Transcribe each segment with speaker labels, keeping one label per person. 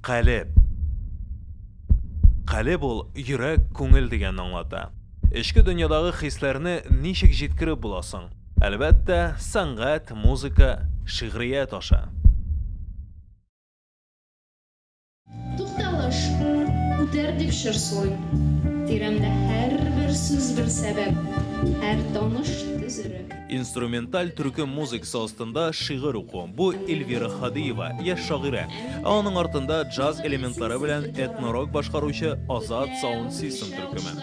Speaker 1: Калеб. Калеб ул йөрәк, күңел дигәнне аңлата. Эчке дөньядагы хисләрне ничек җиткереп була соң? Әлбәттә, сәнгать, музыка, шигърият аша.
Speaker 2: Тукталыш, үтәр дип чыршылыйм. Тирәмдә һәрбер сүз бер сәбәп, һәр таныш төз өрәк. Инструменталь
Speaker 1: төркем музыкасы астында шигырь уку, бу Эльвира Һадиева, яшь шагыйрә. Ә аның артында джаз элементлары белән этно-рок башкаручы Азат Саунд Систем төркеме.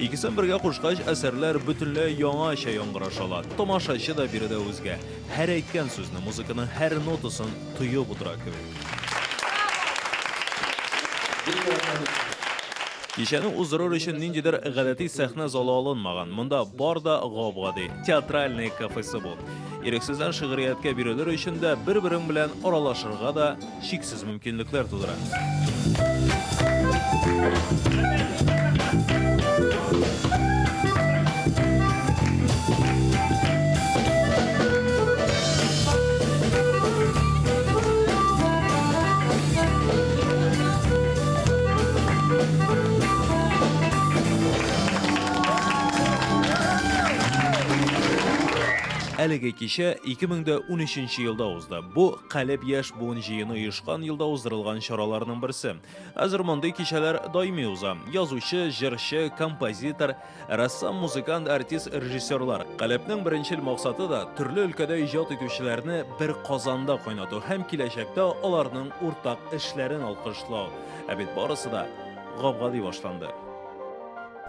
Speaker 1: Икесен бергә кушкач, әсәрләр бөтенләй яңача яңгыраша ала. Тамашачы да биредә үзгә. Һәр әйткән сүзне, музыканың һәр нотасын тоеп утыра кебек. Кичәне уздырыр өчен ниндидер гадәти сәхнә залы алынмаган. Монда бар да гап-гади, театральные кафесы бу. Ирексездән шигърияткә бирелер өчен дә, бер-берең белән аралашырга да чиксез мөмкинлекләр тудыра. Әлеге кичә 2013 елда узды. Бу Калеб яшь буын җыены оешкан елда уздырылган чараларның берсе. Хәзер мондый кичәләр даими уза. Язучы, җырчы, композитор, Рәссам, музыкант, артист, режиссерлар. Калебнең беренчел максаты да төрле өлкәдә иҗат итүчеләрне бер казанда кайнату һәм киләчәктә аларның уртак эшләрен алкышлау. Ә бит барысы да гап-гади башланды.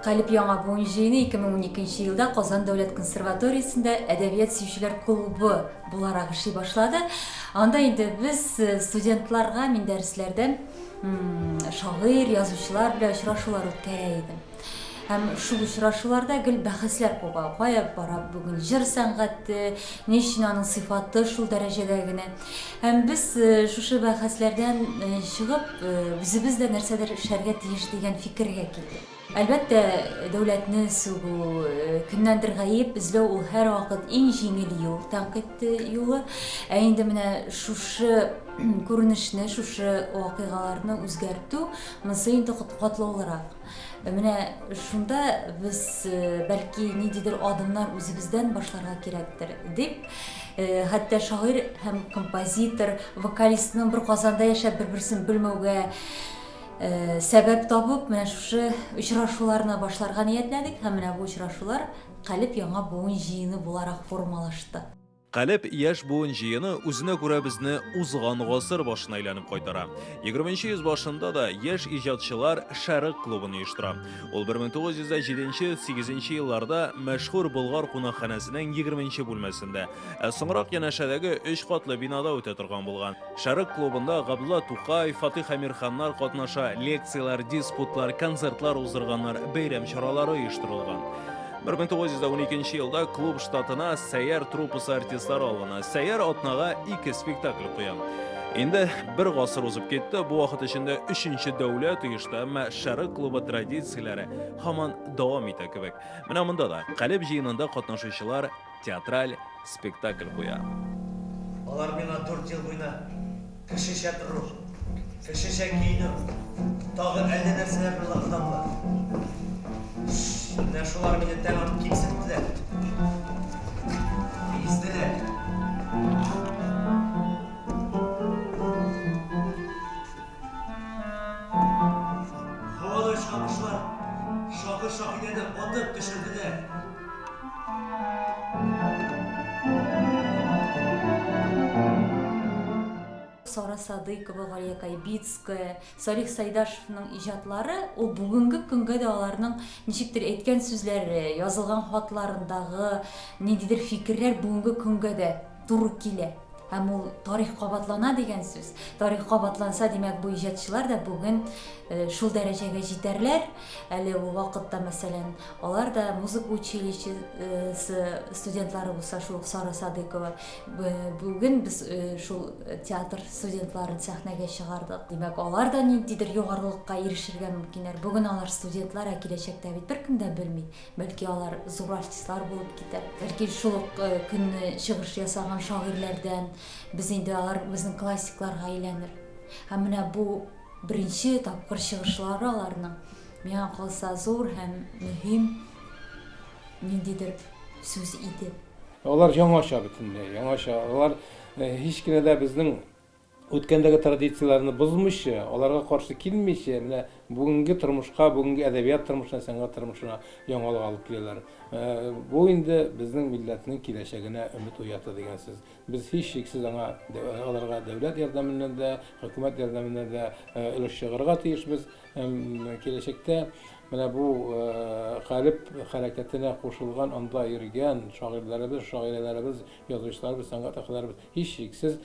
Speaker 3: Калеб яңа буын җыены 2012 нче елда Казан дәүләт консерваториясендә әдәбият сөючеләр клубы буларак эшли башлады. Анда инде без студентларга мин дәресләрдә шагыйрь, язучылар белән очрашулар үткәрә идем. Һәм шул очрашуларда гел бәхәсләр куба, кая бара бүген җыр сәнгате, ни өчен аның сыйфаты шул дәрәҗәдә генә. Һәм без шушы бәхәсләрдән чыгып, үзебез дә нәрсәдер эшләргә тиеш дигән фикергә килдек. Әлбәттә, дәүләтне сүгү, кемнәндер гаеп эзләү ул һәрвакыт иң җиңел юл, тәнкыйть юлы. Ә инде менә шушы күренешне, шушы вакыйгаларны үзгәртү, монысы инде катлаулырак. Менә шунда без бәлки ниндидер адымнар үзебездән башларга кирәктер, дип, хәтта шагыйрь һәм композитор, вокалистның бер Казанда яшәп бер-берсен белмәүгә сәбәп табып, менә шушы очрашуларны башларга ниятләдек һәм менә бу очрашулар Калеб яңа буын җыены буларак формалашты. Калеб яшь
Speaker 1: буын җыены үзенә күрә безне узган гасыр башына әйләнеп кайтара. 20 йөз башында да яшь иҗатчылар Шәрык клубын оештыра. Ул 1907-8 елларда мәшһүр Болгар кунакханәсенең 20 бүлмәсендә, ә соңрак янәшәдәге өч катлы бинада үтә торган булган. Шәрык клубында Габдулла Тукай, Фатих Әмирханнар катнаша, лекцияләр, диспутлар, концертлар уздырганнар, бәйрәм чаралары оештырылган. 1912 елда клуб штатына Сәяр труппасы артистлары алына. Сәяр атнага ике спектакль куя. Инде бер гасыр узып китте, бу вакыт эчендә өченче дәүләт оешты, әмма Шәрык клубы традицияләре һаман дәвам итә кебек. Менә монда да Калеб җыенында катнашучылар театраль спектакль куя. Алар
Speaker 4: миңа дүрт ел буена кешечә тору, кешечә киенү, тагын әллә нәрсәләр белән алдадылар. Менә шулар мине тәмам кимсеттеләр. Изделәр. Һавада очкан кошлар шакыр-шакыр итә дә атып төшерделәр.
Speaker 3: Сара Садыйкова, Галия Кайбицкая, Салих Сайдашевның иҗатлары, ул бүгенге көнгә дә аларның ничектер әйткән сүзләре, язылган хатларындагы ниндидер фикерләр бүгенге көнгә дә туры килә. Һәм ул тарих кабатлана дигән сүз. Тарих кабатланса, димәк, бу иҗатчылар да бүген э, шул дәрәҗәгә җитәрләр. Әле бу вакытта, мәсәлән, алар да музыка училищесы студентлары булса, шул Сара Садыкова. Бүген без э, шул театр студентларын сәхнәгә чыгардык. Димәк, алар да ниндидер югарылыкка ирешергә мөмкиннәр. Бүген алар студентлар, ә киләчәктә бит беркем дә белми. Бәлки алар зур артистлар булып китәр. Бәлки шул ук көнне чыгыш ясаган шагыйрьләрдән без инде алар безнең классикларга әйләнер. Һәм менә бу беренче тапкыр чыгышлары аларның миңа калса зур һәм мөһим ниндидер сүз иде. Алар яңача
Speaker 5: бөтенләй, яңача. Алар һич кенә дә безнең Үткәндәге традицияләрне бозмыйча, аларга каршы килмичә, менә бүгенге тормышка, бүгенге әдәбият тормышына, сәнгать тормышына яңалык алып киләләр. Бу инде безнең милләтнең киләчәгенә өмет уята дигән сүз. Без һичшиксез аңа, аларга дәүләт ярдәменнән дә, хөкүмәт ярдәменнән дә өлеш чыгарырга тиешбез һәм киләчәктә менә бу калеб хәрәкәтенә кушылган, анда йөргән шагыйрьләребез, шагыйрәләребез, язучыларыбыз, сәнгать әһелләребез һичшиксез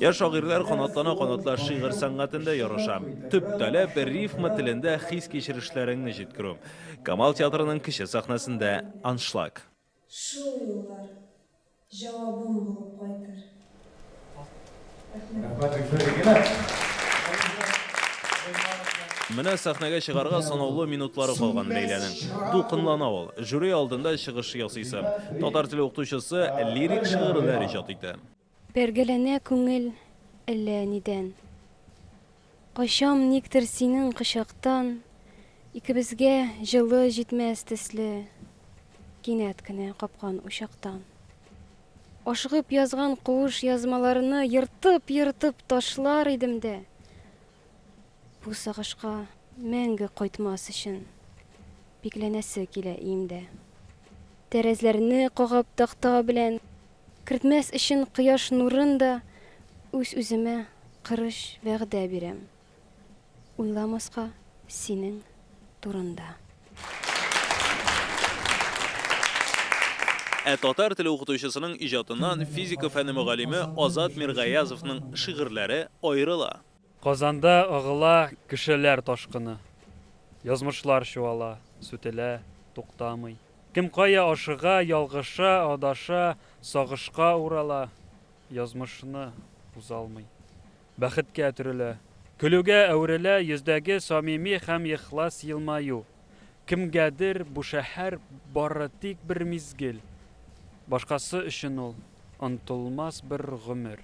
Speaker 1: Я шагыйрьләр канатлана-канатлар шигырь сәнгатендә ярыша. Төп таләп рифма телендә хис-кичерешләреңне җиткерү. Камал театрының кече сәхнәсендә аншлаг. Шул юллар
Speaker 6: җавабым булып кайтыр. Рәхмәт.
Speaker 1: Менә сәхнәгә чыгарга санаулы минутлары калган Ләйләнең. Дулкынлана ул. Жюри алдында чыгыш ясыйсы. Татар теле укытучысы лирик шигырьләр иҗат итә. Бәргәләнә
Speaker 7: күңел әллә нидән. Качам никтер синең кочактан, Икебезгә җылы җитмәс төсле, Кинәт кенә капкан учактан. Ашыгып язган куыш язмаларны Ертып-ертып ташлар идем дә, Бу сагышка мәңге кайтмас өчен, Бикләнәсе килә иемдә. Тәрәзләрне кагып такта белән. Кертмәс өчен кояш нурын да Үз-үземә кырыч вәгъдә бирәм, Уйламаска синең турында.
Speaker 1: Ә татар теле укытучысының иҗатыннан физика фәне мөгаллиме Азат Миргаязовның шигырьләре аерыла. Казанда
Speaker 8: агыла кешеләр ташкыны. Язмышлар чуала, сүтелә, туктамый. Кем кая ашыга, ялгыша, адаша, сагышка урала, язмышны узалмый. Бәхеткә төрелә, көлүгә әверелә йөздәге самими һәм ихлас елмаю. Кемгәдер бу шәһәр бары тик бер мизгел, башкасы өчен ул, онытылмас бер гомер.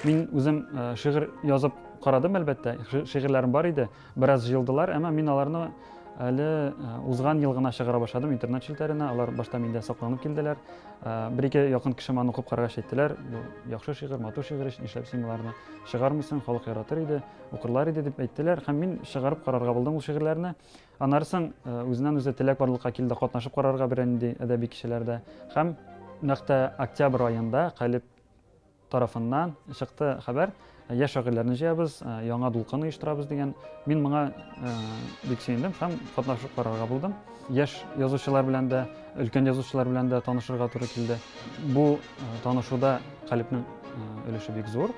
Speaker 8: Мин үзем шигырь язып карадым, әлбәттә, шигырьләрем бар иде, бераз җыелдылар, әмма мин аларны әле узган ел гына чыгара башладым интернет челтәренә, алар башта миндә сакланып килделәр. Бер-ике якын кеше моны укып карагач әйттеләр, бу яхшы шигырь, матур шигырь өчен эшләп син боларны чыгармыйсың, халык яратыр иде, укырлар иде дип әйттеләр һәм мин чыгарып карарга булдым ул шигырьләрне. Аннары соң үзеннән үзе теләк барлыкка килде катнашып карарга берәнди әдәби кичәләрдә һәм нәкъ тә октябрь аенда Калеб тарафыннан чыкты хәбәр, яшь шагыйрьләрне җыябыз, яңа дулкын оештырабыз дигән. Мин моңа бик сөендем һәм катнашып карарга булдым. Яшь язучылар белән дә, өлкән язучылар белән дә танышырга туры килде. Бу танышуда Калипнең өлеше бик зур.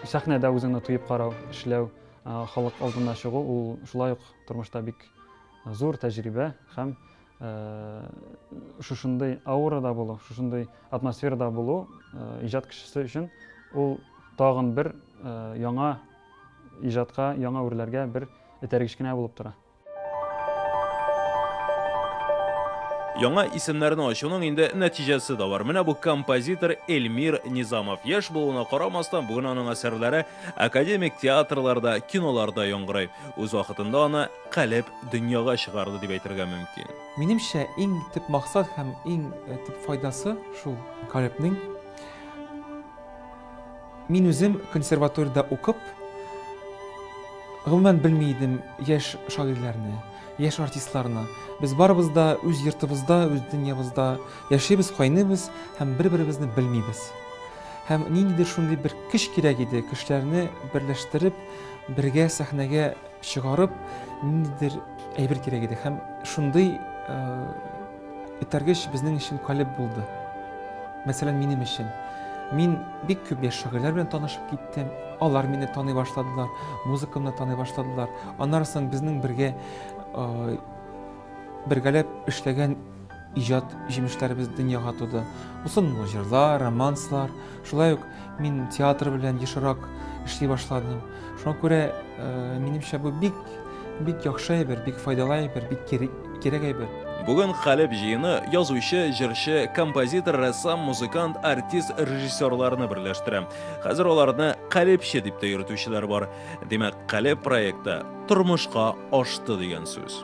Speaker 8: Сәхнәдә үзеңне тоеп карау, эшләү, халык алдына чыгу, ул шулай ук тормышта бик зур тәҗрибә һәм Шушындый аурада булу, шушындый атмосферада булу иҗат кешесе өчен ул тагын бер яңа иҗатка, яңа үрләргә бер этәргеч кенә булып тора.
Speaker 1: Яңа исемнәрне ачуның инде нәтиҗәсе дә бар. Менә бу композитор Эльмир Низамов. Яшь булуына карамастан, бүген аның әсәрләре академик театрларда, киноларда яңгырый. Үз вакытында аны калеб дөньяга чыгарды дип әйтергә мөмкин. Минемчә, иң
Speaker 9: төп максат һәм иң төп файдасы шул калебнең. Мин үзем консерваториядә укып, гомумән белми идем яшь шагыйрьләрне, яшь артистларны. Без барыбыз да үз йортыбызда, үз дөньябызда яшибез, кайныйбыз һәм бер-беребезне белмибез. Һәм ниндидер шундый бер көч кирәк иде, кешеләрне берләштереп, бергә сәхнәгә чыгарып, ниндидер әйбер кирәк иде һәм шундый этәргеч безнең өчен калеб булды. Мәсәлән, минем өчен. Мин бик күп яшь шагыйрьләр белән танышып киттем. Алар мине таный башладылар, музыкамны таный башладылар. Аннары соң безнең бергә бергәләп эшләгән Иҗат җимешләребез дөньяга туды. Узынлы җырлар, романслар. Шулай ук мин театр белән ешрак эшли башладым. Шуңа күрә, э, минемчә, бу бик бик яхшы әйбер, бик файдалы әйбер, бик кирәк әйбер. Бүген Хәлеб
Speaker 1: җыены язучы, җырчы, композитор, рәссам, музыкант, артист, режиссерларны берләштерә. Хәзер аларны Калебче дип тә йөртүчеләр бар. Димәк, Калеб проекты тормышка ашты дигән сүз.